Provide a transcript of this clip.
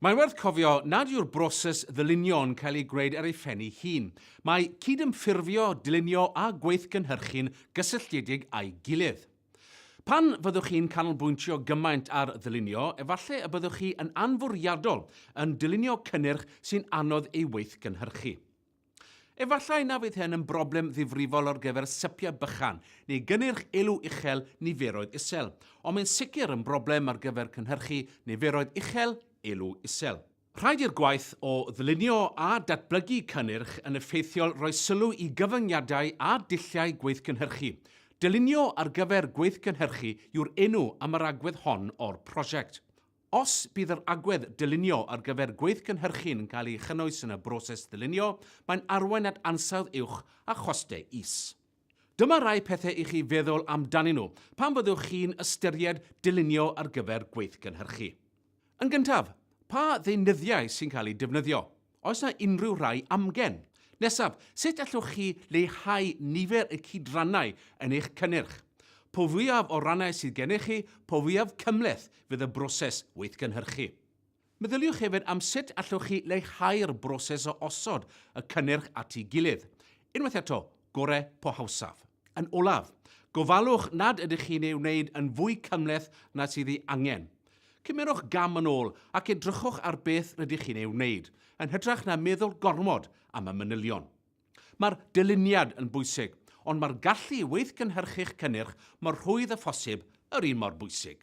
Mae'n werth cofio nad yw'r broses ddylunio yn cael ei gwneud ar ei phen-i hun. Mae cydymffurfio, dylunio a gweithgynhyrchu'n gysylltiedig â'i gilydd. Pan fyddwch chi'n canolbwyntio gymaint ar ddylunio, efallai y byddwch chi yn anfwriadol yn dylunio cynnyrch sy'n anodd ei weithgynhyrchu. Efallai na fydd hyn yn broblem ddifrifol ar gyfer sypiau bychan neu gynnyrch elw uchel niferoedd isel, ond mae'n sicr yn broblem ar gyfer cynhyrchu niferoedd uchel elw isel. Rhaid i'r gwaith o ddylunio a datblygu cynnyrch yn effeithiol roi sylw i gyfyngiadau a dulliau gweithgynhyrchu. Dylunio ar gyfer gweithgynhyrchu yw'r enw am yr agwedd hon o'r prosiect. Os bydd yr agwedd dylunio ar gyfer gweithgynhyrchu'n yn cael ei chynnwys yn y broses ddylunio, mae'n arwain at ansawdd uwch a chostau is. Dyma rai pethau i chi feddwl amdanyn nhw pan fyddwch chi'n ystyried dylunio ar gyfer gweithgynhyrchu. Yn gyntaf, pa ddeunyddiau sy'n cael eu defnyddio? Oes na unrhyw rai amgen? Nesaf, sut allwch chi leihau nifer y cydrannau yn eich cynnyrch? Po fwyaf o rannau sydd gennych chi, po fwyaf cymhleth fydd y broses weithgynhyrchu. Meddyliwch hefyd am sut allwch chi leihau'r broses o osod y cynnyrch at ei gilydd. Unwaith eto, gore po hawsaf. Yn olaf, gofalwch nad ydych chi'n ei wneud yn fwy cymhleth na sydd ei angen. Cymerwch gam yn ôl ac edrychwch ar beth rydych chi'n ei wneud, yn hytrach na meddwl gormod am y manylion. Mae'r dyluniad yn bwysig, ond mae'r gallu i weithgynhyrchu'ch cynnyrch mor rhwydd â phosib yr un mor bwysig.